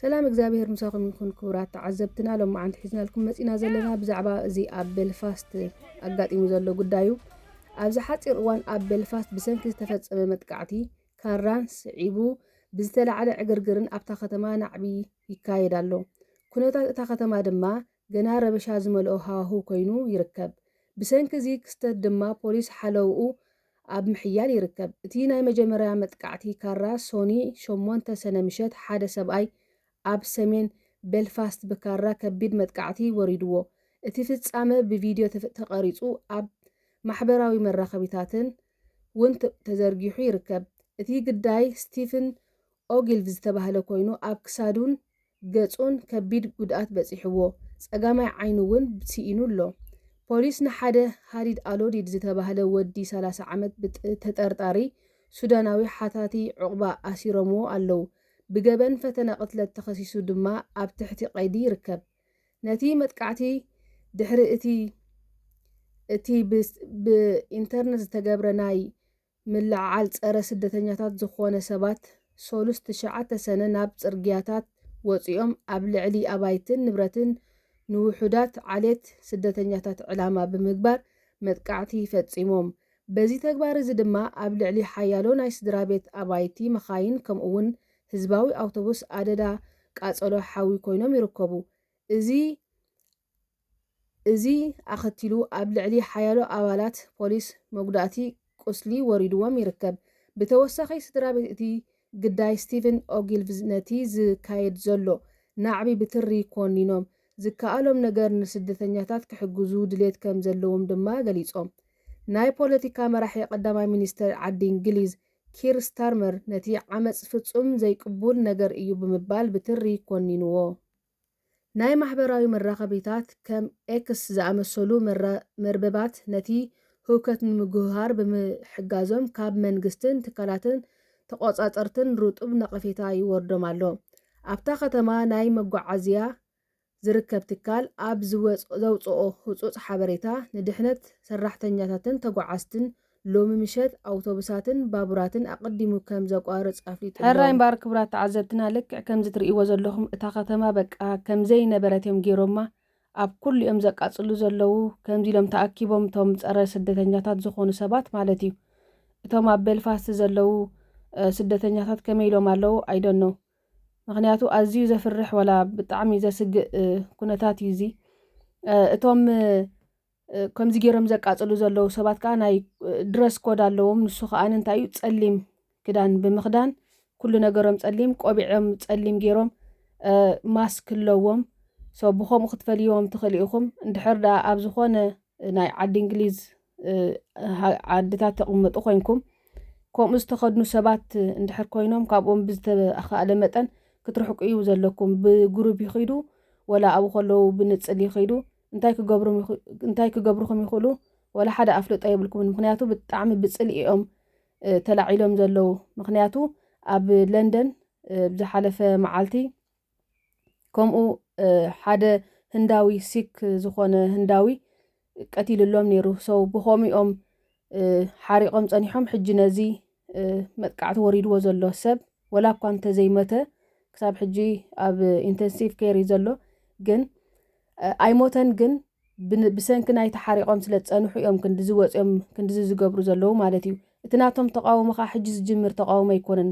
ሰላም እግዚኣብሔር ምሳኹም ይኹን ክቡራት ተዓዘብትና ሎማዓንቲ ሒዝናልኩም መጺና ዘለና ብዛዕባ እዚ ኣብ ቤልፋስት ኣጋጢሙ ዘሎ ጉዳዩ ኣብዚ ሓጺር እዋን ኣብ ቤልፋስት ብሰንኪ ዝተፈጸመ መጥቃዕቲ ካራን ስዒቡ ብዝተላዕለ ዕግርግርን ኣብታ ከተማ ናዕቢ ይካየድ ኣሎ ኩነታት እታ ከተማ ድማ ገና ረበሻ ዝመልኦ ሃዋህው ኮይኑ ይርከብ። ብሰንኪ እዚ ክስተት ድማ ፖሊስ ሓለውኡ ኣብ ምሕያል ይርከብ። እቲ ናይ መጀመርያ መጥቃዕቲ ካራ ሶኒ ሸሞንተ ሰነ ምሸት ሓደ ሰብኣይ ኣብ ሰሜን ቤልፋስት ብካራ ከቢድ መጥቃዕቲ ወሪድዎ። እቲ ፍጻመ ብቪድዮ ተቐሪጹ ኣብ ማሕበራዊ መራኸቢታትን ውን ተዘርጊሑ ይርከብ። እቲ ግዳይ ስቲፍን ኦጊልቭ ዝተባህለ ኮይኑ ኣብ ክሳዱን ገጹን ከቢድ ጉድኣት በጺሕዎ ጸጋማይ ዓይኑ እውን ስኢኑ ኣሎ። ፖሊስ ንሓደ ሃዲድ ኣሎዲድ ዝተባህለ ወዲ ሰላሳ ዓመት ብተጠርጣሪ ሱዳናዊ ሓታቲ ዑቕባ ኣሲሮምዎ ኣለዉ። ብገበን ፈተነ ቅትለት ተኸሲሱ ድማ ኣብ ትሕቲ ቀይዲ ይርከብ። ነቲ መጥቃዕቲ ድሕሪ እቲ እቲ ብኢንተርነት ዝተገብረ ናይ ምልዕዓል ፀረ ስደተኛታት ዝኾነ ሰባት ሰሉስ ትሽዓተ ሰነ ናብ ፅርግያታት ወፂኦም ኣብ ልዕሊ ኣባይትን ንብረትን ንውሑዳት ዓሌት ስደተኛታት ዕላማ ብምግባር መጥቃዕቲ ፈፂሞም። በዚ ተግባር እዚ ድማ ኣብ ልዕሊ ሓያሎ ናይ ስድራቤት ኣባይቲ፣ መኻይን ከምኡ እውን ህዝባዊ ኣውቶቡስ ኣደዳ ቃፀሎ ሓዊ ኮይኖም ይርከቡ። እዚ እዚ ኣኸቲሉ ኣብ ልዕሊ ሓያሎ ኣባላት ፖሊስ መጉዳእቲ ቁስሊ ወሪድዎም ይርከብ። ብተወሳኺ ስድራቤት እቲ ግዳይ ስቲቭን ኦጊልቭዝ ነቲ ዝካየድ ዘሎ ናዕቢ ብትሪ ኮኒኖም፣ ዝከኣሎም ነገር ንስደተኛታት ክሕግዙ ድሌት ከም ዘለዎም ድማ ገሊጾም። ናይ ፖለቲካ መራሒ ቀዳማይ ሚኒስተር ዓዲ እንግሊዝ ኪር ስታርመር ነቲ ዓመጽ ፍጹም ዘይቅቡል ነገር እዩ ብምባል ብትሪ ኮኒንዎ። ናይ ማሕበራዊ መራኸቢታት ከም ኤክስ ዝኣመሰሉ መርበባት ነቲ ህውከት ንምጉህሃር ብምሕጋዞም ካብ መንግስትን ትካላትን ተቖጻጸርትን ርጡብ ነቐፌታ ይወርዶም ኣሎ። ኣብታ ከተማ ናይ መጓዓዝያ ዝርከብ ትካል ኣብ ዘውጽኦ ህጹጽ ሓበሬታ፣ ንድሕነት ሰራሕተኛታትን ተጓዓዝትን ሎሚ ምሸት ኣውቶቡሳትን ባቡራትን ኣቐዲሙ ከም ዘቋርጽ ኣፍሊጡ ኣሎ። ሕራይ እምበኣር ክቡራት ተዓዘብትና ልክዕ ከምዚ ትርእይዎ ዘለኹም እታ ከተማ በቃ ከም ዘይነበረት እዮም ጌሮማ ኣብ ኩሉ እዮም ዘቃጽሉ ዘለዉ ከምዚ ኢሎም ተኣኪቦም እቶም ጸረ ስደተኛታት ዝኾኑ ሰባት ማለት እዩ እቶም ኣብ ቤልፋስት ዘለዉ ስደተኛታት ከመይ ኢሎም ኣለዉ ኣይደኖ ምክንያቱ ኣዝዩ ዘፍርሕ ወላ ብጣዕሚ ዘስግእ ኩነታት እዩ እዚ እቶም ከምዚ ጌሮም ዘቃጽሉ ዘለዉ ሰባት ከኣ ናይ ድረስ ኮድ ኣለዎም ንሱ ከኣ እንታይ እዩ ጸሊም ክዳን ብምኽዳን ኩሉ ነገሮም ጸሊም ቆቢዖም ጸሊም ጌሮም ማስክ ኣለዎም ሶ ብከምኡ ክትፈልይዎም ትኽእሉ ኢኹም እንድሕር ደኣ ኣብ ዝኾነ ናይ ዓዲ እንግሊዝ ዓድታት ተቕምጡ ኮንኩም ከምኡ ዝተኸድኑ ሰባት እንድሕር ኮይኖም ካብኦም ብዝተኻእለ መጠን ክትርሕቁ እዩ ዘለኩም። ብግሩብ ይኽዱ ወላ ኣብኡ ከለዉ ብንጽል ይኽዱ። እንታይ ክገብሩም እንታይ ክገብሩኹም ይኽእሉ ወላ ሓደ ኣፍልጦ የብልኩምን ምክንያቱ ብጣዕሚ ብጽልኢ እዮም ተላዒሎም ዘለዉ ምክንያቱ ኣብ ለንደን ብዝሓለፈ መዓልቲ ከምኡ ሓደ ህንዳዊ ሲክ ዝኾነ ህንዳዊ ቀቲልሎም ነይሩ ሰው ብኸምኡ እዮም ሓሪቖም ጸኒሖም ሕጂ ነዚ መጥቃዕቲ ወሪድዎ ዘሎ ሰብ ወላ እኳ እንተዘይሞተ ክሳብ ሕጂ ኣብ ኢንተንሲቭ ኬር እዩ ዘሎ ግን ኣይሞተን ግን ብሰንኪ ናይ ተሓሪቖም ስለ ዝፀንሑ እዮም ክንዲዚ ወፂኦም ክንዲዚ ዝገብሩ ዘለዉ ማለት እዩ እቲ ናቶም ተቃውሞ ከዓ ሕጂ ዝጅምር ተቃውሞ ኣይኮነን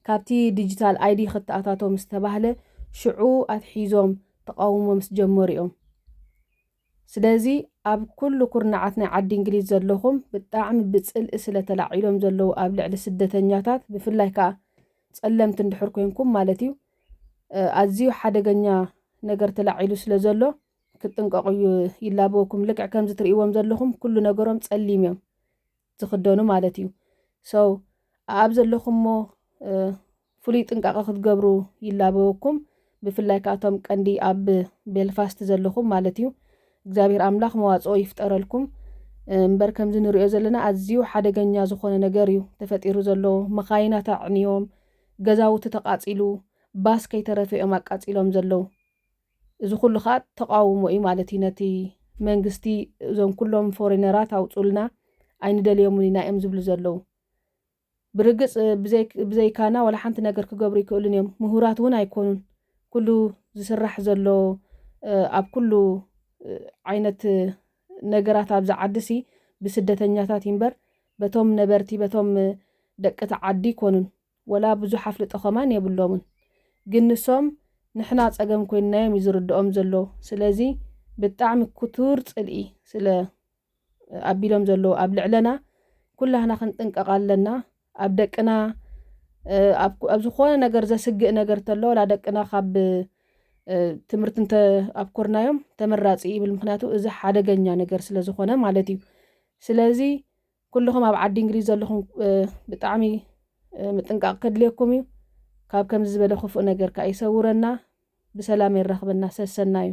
ካብቲ ዲጂታል ኣይዲ ክተኣታቶ ምስ ተባህለ ሽዑ ኣትሒዞም ተቃውሞ ምስ ጀመሩ እዮም ስለዚ ኣብ ኩሉ ኩርናዓት ናይ ዓዲ እንግሊዝ ዘለኹም ብጣዕሚ ብጽልኢ ስለ ተላዒሎም ዘለዉ ኣብ ልዕሊ ስደተኛታት ብፍላይ ከኣ ጸለምቲ እንድሕር ኮንኩም ማለት እዩ ኣዝዩ ሓደገኛ ነገር ተላዒሉ ስለ ዘሎ ክትጥንቀቑ እዩ ይላበወኩም ልክዕ ከምዚ ትርእይዎም ዘለኹም ኩሉ ነገሮም ጸሊም እዮም ዝኽደኑ ማለት እዩ ሰው ኣብ ዘለኹሞ ፍሉይ ጥንቃቐ ክትገብሩ ይላበወኩም ብፍላይ ከኣ እቶም ቀንዲ ኣብ ቤልፋስት ዘለኹም ማለት እዩ እግዚኣብሔር ኣምላኽ መዋጽኦ ይፍጠረልኩም እምበር ከምዚ ንሪኦ ዘለና ኣዝዩ ሓደገኛ ዝኾነ ነገር እዩ ተፈጢሩ ዘሎ መኻይናት ኣዕንዮም ገዛውቲ ተቃጺሉ ባስ ከይተረፈ እዮም ኣቃጺሎም ዘለው እዚ ኩሉ ከዓ ተቃውሞ እዩ ማለት እዩ ነቲ መንግስቲ እዞም ኩሎም ፎሬነራት ኣውፁልና ኣይንደልዮምን ኢና እዮም ዝብሉ ዘለው ብርግጽ ብዘይካና ዋላ ሓንቲ ነገር ክገብሩ ኣይክእሉን እዮም፣ ምሁራት እውን ኣይኮኑን። ኩሉ ዝስራሕ ዘሎ ኣብ ኩሉ ዓይነት ነገራት ኣብዚ ዓዲሲ ብስደተኛታት እዩምበር በቶም ነበርቲ በቶም ደቂ እቲ ዓዲ ኣይኮኑን። ወላ ብዙሕ ኣፍልጦ ከማን የብሎምን። ግን ንሶም ንሕና ጸገም ኮይንናዮም እዩ ዝርድኦም ዘሎ። ስለዚ ብጣዕሚ ክቱር ጽልኢ ስለ ኣቢሎም ዘለዉ ኣብ ልዕለና ኩላህና ክንጥንቀቕ ኣለና ኣብ ደቅና ኣብ ዝኾነ ነገር ዘስግእ ነገር ተሎ ወላ ደቅና ካብ ትምህርቲ እንተ ኣብኮርናዮም ተመራፂ ይብል ምክንያቱ እዚ ሓደገኛ ነገር ስለ ዝኾነ ማለት እዩ ስለዚ ኩልኹም ኣብ ዓዲ እንግሊዝ ዘለኹም ብጣዕሚ ምጥንቃቕ ከድልየኩም እዩ ካብ ከምዚ ዝበለ ክፉእ ነገር ከዓ ይሰውረና ብሰላም የራኽበና ሰሰና እዩ